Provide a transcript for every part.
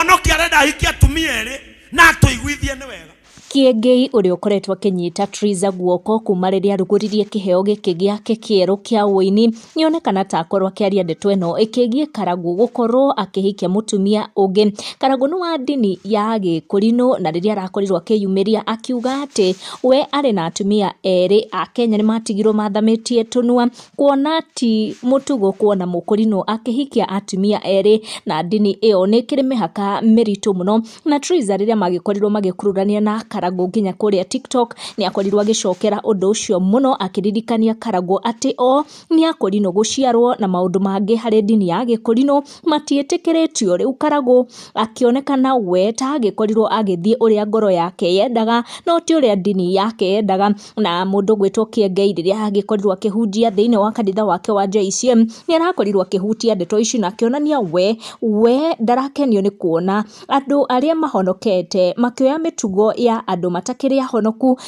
mũhonokia arenda ahikie atumia erĩ na atũiguithie nĩ wega Kĩengei ũrĩa ũkoretwo akĩnyita Triza guoko kuma rĩrĩa arugũririe kĩheo gĩkĩ gĩake kĩerũ kĩa ũini nĩ onekana ta akorwo akĩaria ndeto ĩno ĩkĩgiĩ Karagũ gũkorwo akĩhikia mũtumia ũngĩ. Karagũ nĩ wa ndini ya Gĩkũrinũ na rĩrĩa arakorirwo akĩyumĩria akiuga atĩ we arĩ na atumia erĩ a Kenya nĩ matigirwo mathamĩtie tũnua Kuona ti mũtugo kuona mũkũrinũ akĩhikia atumia erĩ na ndini ĩyo nĩ ĩkĩrĩ mĩhaka mĩritũ mũno. Na Triza rĩrĩa magĩkorirwo magĩkururanĩra na Karangũ nginya kũrĩa TikTok, nĩ akorirwo agĩcokera ũndũ ũcio mũno akĩririkania Karangũ atĩ o nĩ akũrinũ gũciarwo na maũndũ mangĩ harĩ ndini ya gĩkũrinũ matiĩtĩkĩrĩtio. Rĩu Karangũ akĩonekana we ta agĩkorirwo agĩthiĩ ũrĩa ngoro yake yendaga no ti ũrĩa ndini yake yendaga. na mũndũ ũgwĩtwo Kiengei rĩrĩa angĩkorirwo akĩhunjia thĩinĩ wa kanitha wake wa JECM, nĩ arakorirwo akĩhutia ndeto ici na akĩonania we, we ndarakenio nĩ kuona andũ arĩa mahonokete makĩoya mĩtugo ya andũ matakĩrĩ ahonoku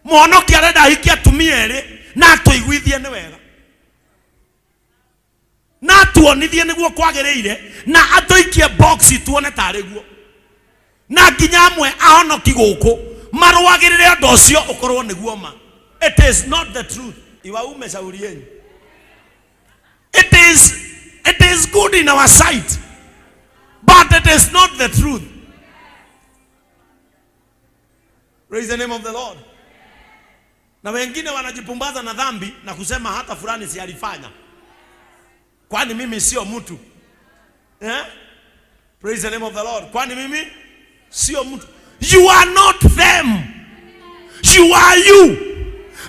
mwonoki arenda ahikie atumia erĩ na atũiguithie nĩ wega na atuonithie nĩguo kwagĩrĩire na atũikie boxi tuone tarĩ guo na nginya amwe ahonoki gũkũ marũagĩrĩre ũndũ ũcio ũkorwo nĩguo ma it is not the truth iwaume shauri yenyu it is, it is good in our sight but it is not the truth praise the name of the lord Na wengine wanajipumbaza na dhambi na kusema hata fulani si alifanya, kwani mimi sio mtu eh? Praise the name of the Lord. Kwani mimi sio mtu. You are not them. You are you.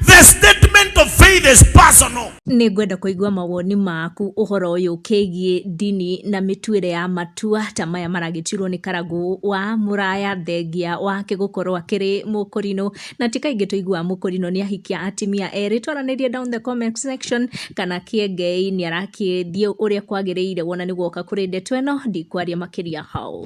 The statement of faith is personal. Nĩ ngwenda kũigua mawoni maku ũhoro ũyũ ũkĩgiĩ ndini na mĩtuĩre ya matua ta maya maragĩturwo nĩ karagũ wa mũraya thengia wake gũkorwo akĩrĩ mũkũrinũ na ti kaingĩ tũiguaga mũkũrinũ nĩ ahikia atimia erĩ twaranĩrie down the comment section kana kĩengei nĩ arakĩthiĩ ũrĩa kwagĩrĩire wona nĩ guoka kũrĩ ndeto ĩno ndikwaria makĩria hau